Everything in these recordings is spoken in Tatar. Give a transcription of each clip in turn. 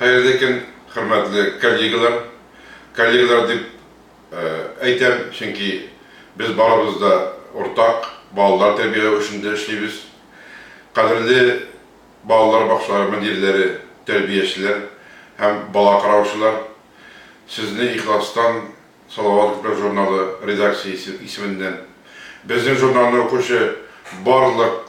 Хәерле көн, хөрмәтле коллегалар! Коллегалар дип әйтәм, чөнки без барыбыз да уртак, балалар тәрбияләү эшендә эшлибез. Кадерле балалар бакчалары мөдирләре, тәрбиячеләр һәм бала караучылар! Сезне ихластан Салават күпер журналы редакциясе исеменнән, безнең журналны укучы барлык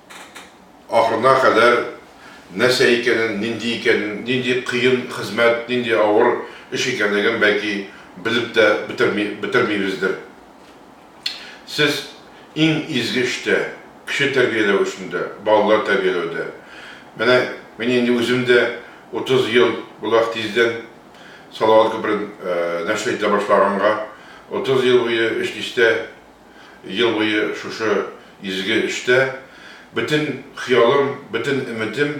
ахырына кадәр нәрсә икәнен, нинди икәнен, нинди кыен хезмәт, нинди авыр эш икәнлеген, бәлки, белеп тә бетерми, бетермибездер. Сез иң изге эштә, кеше тәрбияләү эшендә, балалар тәрбияләүдә. Менә мин инде үзем дә 30 ел була ХТИЗдән Салават күперен нәшер итә башлаганга, 30 ел буе ШТИЗта Ел буе шушы изге эштә бөтен хыялым, бөтен өметем,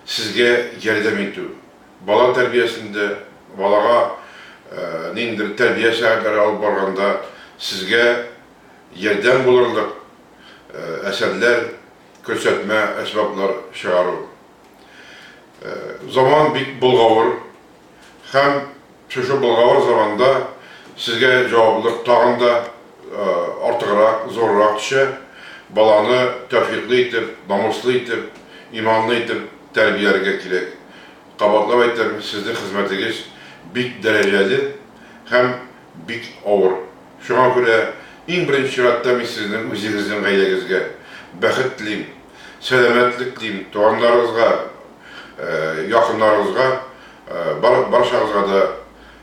сезгә ярдәм итү. Бала тәрбиясендә, балага ниндидер тәрбия сәгатьләре алып барганда сезгә ярдәм булырлык әсәрләр, көрсәтмә әсбаплар чыгару. Заман бик болгавыр. Һәм шушы болгавыр заманда сезгә җаваплылык тагын да артыграк, зуррак төшә, баланы тәүфиклы итеп, намуслы итеп, иманлы итеп тәрбияләргә кирәк. Кабатлап әйтәм, сезнең хезмәтегез бик дәрәҗәле һәм бик авыр. Шуңа күрә иң беренче чиратта мин сезнең үзегезнең гаиләгезгә бәхет телим. Сәламәтлек дим, туганнарыгызга, якыннарыгызга, барчагызга да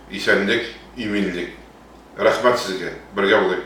исәнлек, иминлек. Рәхмәт сезгә, бергә булыйк!